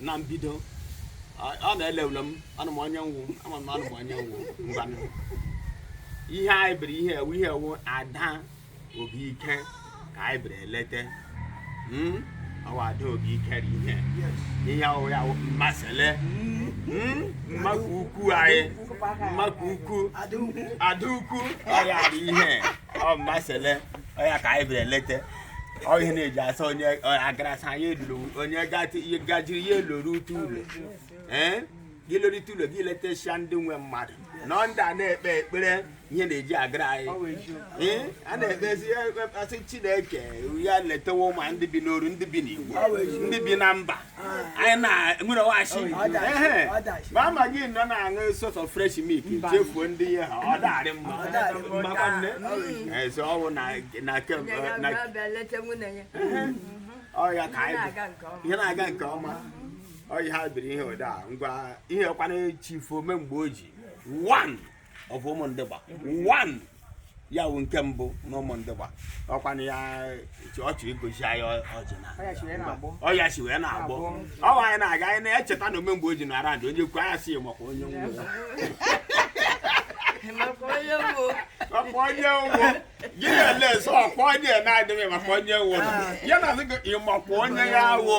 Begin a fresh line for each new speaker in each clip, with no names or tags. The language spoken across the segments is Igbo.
na mbido ọ na-ele ule m anụ m onye nwụ ama m anụ m onye nwụ ngwanụ ihe anyị bịara ihe ọ wụ ihe ọ wụ ada obi ike ka anyị bịara elete hmm? ọwa ada obi ike ri ihe ihe ọwụ ya mmasịle hmm? mmakụ ukwu anyị mmakụ ukwu ada ukwu ọya dị ihe ọ mmasịle ọ ya ka anyị bịara leta ọ ihe na-eji asa onye ọ agarasa anyị eluru onye gatị- ihe gajiri ya elorute ụlọ ee gị lorute ụlọ gị letesịa ndị nwe mmadụ nọ ndị a na-ekpe ekpere ihe na-eji agara anyị Ee, a na-ekpezi a sị chineke ya letewo ma ndị bi n'oru ndị bi n'igbo ndị bi na mba anyị na-enwere washi ma ama gị nọ na-aṅụ sort of fresh milk chefuo ndị ihe ha ọ darị mma mmakwa nne ezi ọnwụ na na kemgbe na ọya ka anyị ihe na-aga nke ọma ọya ha biri ihe ụda ngwa ihe kwana chifu ome mgbe o ji one of Umundugba one ya wụ nke mbụ na Umundugba ọ kwana ya ọchị igosi anyị ọjị na ọya si wee na-agbọ ọwa anyị na-aga anyị na-echeta na omemgbe o ji na arandị onye kwu anya si ya maka onye nwe maka onye nwe gị na-ele nsọ ọ kpọ onye na-adịghị maka onye nwe ya na azụ gị ị makwa onye ya awụ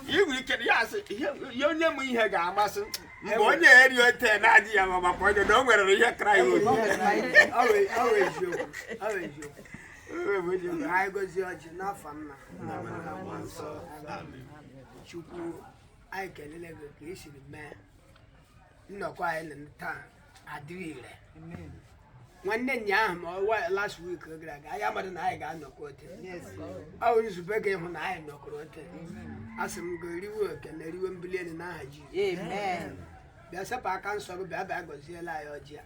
ị nwere ike ya asị ya onye m ihe ga-amasị mgbe onye eri ote na-adị ya mma maka onye na o nwere ihe kraịst oyi anyị gozie ọjị n'afa nna chukwu anyị kelele gị ka i siri mee nnọkọ anyị na taa adịghị ire nwanne anyị ahụ ma ọ wụ last week gara aga anyị amadị na anyị ga-anọkọ ote ọ bụ nzube gị ịhụ na anyị nọkọrọ ote a sị m gị riwe okene riwe mbuli elu n'aha ji bịa sepụ aka nsọ gị bịa bịa gọziela anyị ọjị a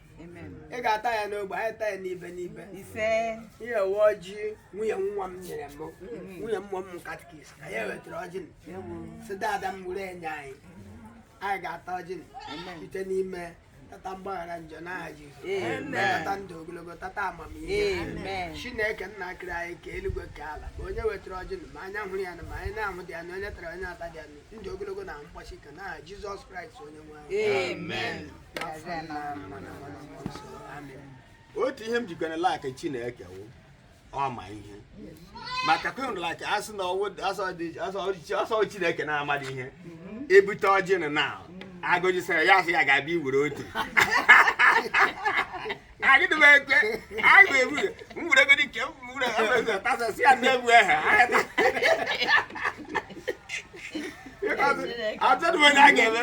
anyị ga-ata ya n'ogbe anyị taa ya n'ibe n'ibe ihe ọ wụ ọjị nwunye nwa m nyere m nwunye mmụọ m katikis ka ya wetara ọjị m si dada m were enye anyị anyị ga-ata ọjị site n'ime tata mgbaghara njọ n'aha Jizọs tata ndụ ogologo tata amamihe Chineke nna kere anyị ka eluigwe ka ala ma onye wetara ọjị ma anya hụrụ ya na ma anya na-ahụ dị anụ onye tara onye ata dị anụ ndụ ogologo na mgbasi ike n'aha Jizọs Kraịst onye nwe anyị otu ihe m jikwana like Chineke wụ ọ ma ihe maka kwendụla ka asị na ọ wụ sọ Chineke na-amadị ihe e bute ọjị na na agụjisara ya asị ya ga-abịa iwere otu agịdị m ekwe agụụ egbu m were godi nke m were tasasị ya ndị egwu ehe atụdụ onye a ga-eme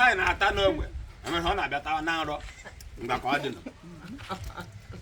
anyị na-ata n'ogbe emere ọ na-abịa tawa na nrọ mgbe ka ọ dị nọ